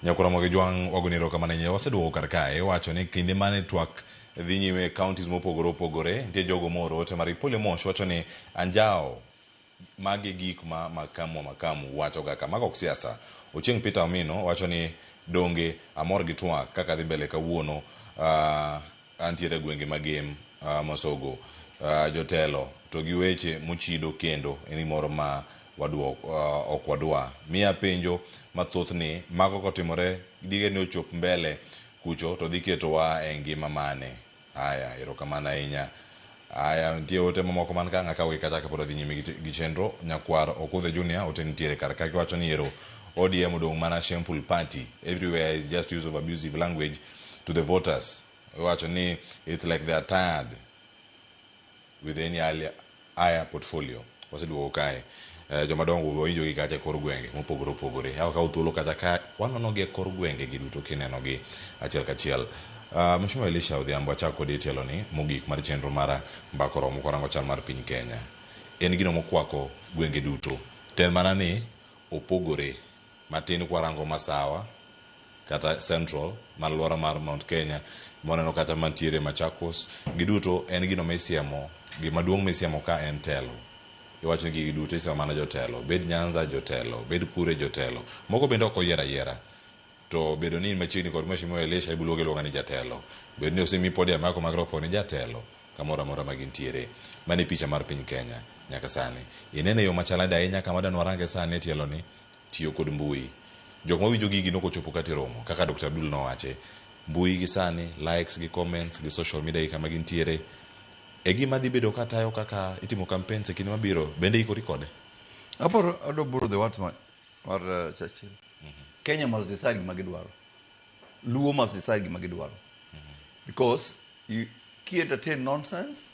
Nyakura Mogi Jwang' wagoni erokamano ahinya. Waseduogo kar kae wacho ni kinde mane twak dhi nyime e counties mopogore opogore, nitie jogo mooro ote mar Ipole Mosh wacho ni anjawo magi gik ma Makamu wa Makamu wacho ga ka. Mago ok siasa. Ochieng' Peter Omino wacho ni donge amor gi twak kaka dhi mbele kawuono. Uh, Antiere e gwenge ma gem mosogo jotelo to gi weche mochido kendo eni moro ma waduok ok wadwa miya penjo mathoth ni mago kotimore dige ni ochop mbele kucho to dhi ketowa e ngima mane? Aya erokamano ahinya. Aya, nitie ote mamoko man ka ng'aka wik achake pod adhi nyime gi gi chenro. Nyakwar Okudhe Junior, ote nitiere kar ka kiwacho ni ero ODM odong' mana shameful party, everywhere is just use of abusive language to the voters. Iwacho ni it's like they are tired with any earlier, aya, portfolio. Waseduogo kae. Eh, joma dongo wawinjo gi kacha e kor gwenge mopogore opogore. Awa kawo thuolo kacha ka wanono gi e kor gwenge gi duto kineno gi achiel kachiel. Uh, Mheshimiwa Elisha Odhiambo, achak kodi e tielo ni mogik mar chenro mar mbako romo kwarango chal mar piny Kenya. En gino mokwako gwenge duto. Ten mana ni opogore. Matin kwarango masawa kata central mar aluora mar Mount Kenya mwaneno kata mantiere Machakos giduto en gino misiemo gima duong' misiemo ka en telo. Iwacho ni gigi duto isiemo mana jotelo bed Nyanza jotelo bed kure jotelo. Moko bende ok oyier ayiera to bedo ni in machiegni kod Mheshimiwa Elisha ibiro luonge aluonga ni jatelo. Bedo ni osemiyi podium yako microphone ijatelo kamoro amora ma gintiere. Mano e picha mar piny Kenya nyaka sani. Ineno e yo machalnade ahinya kama dani warange sani e tieloni. tiyo kod mbui. Jok mawinjo gigi nok ochopo kata e romo. Kaka Dr. Abdul nowache, mbui gi sani, likes gi comments gi social media gi kama gintiere, e gima dhi bedo ka tayo kaka itimo campaigns e kinde mabiro. Bende ikori kode? Aparo, I don't borrow the words ma- mar uh, Churchill. Kenya must decide gima gidwaro. Luo must decide gima gidwaro. Because you, ki entertain nonsense,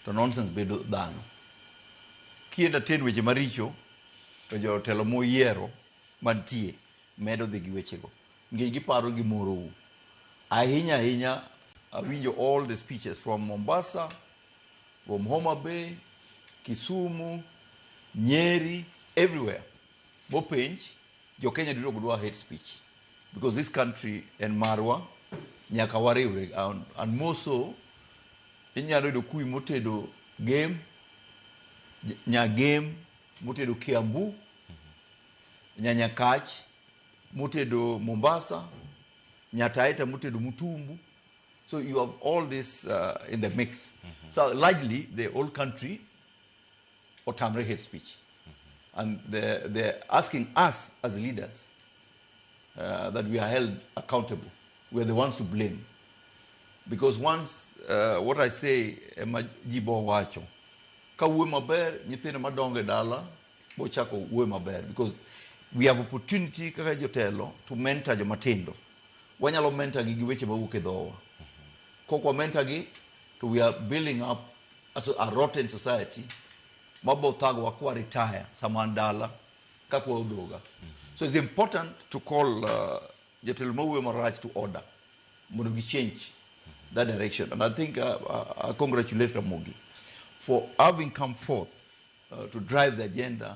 to nonsense bedo dhano. Ki entertain weche maricho, To jotelo muyiero mantie medo dhi gi wechego nikech giparo gimorou ahinya ahinya. Awinjo all the speeches from Mombasa, from Homa Bay, Kisumu, Nyeri, everywhere. Bopenj jo Kenya duto ok dwa hate speech because this country en marwa nyaka wariwre and, and more so inyalo yudo kuwi motedo game nya- nya game motedo Kiambu nyanya kach motedo Mombasa nyataita motedo Mutumbu so you have all this uh, in the mix so largely the whole country otamre hate speech and they're, they're asking us as leaders uh, that we are held accountable we are the ones to blame because once uh, what i say ema ji bo wacho ka wuo maber nyithindo madongo e dala bochako wuo maber because we have opportunity kaka jotelo to mentor jomatindo wanyalo mentor gi gi weche mawuok e dhowa kok wamentor gi to we are building up aso a rotten society mabo thagowa kwa retire sama an dala ka kwa odoga so it's important to call uh, jotelo mawuoyo marach to order mondo gi change that direction and i think uh, uh, i congratulate ramogi for having come forth uh, to drive the agenda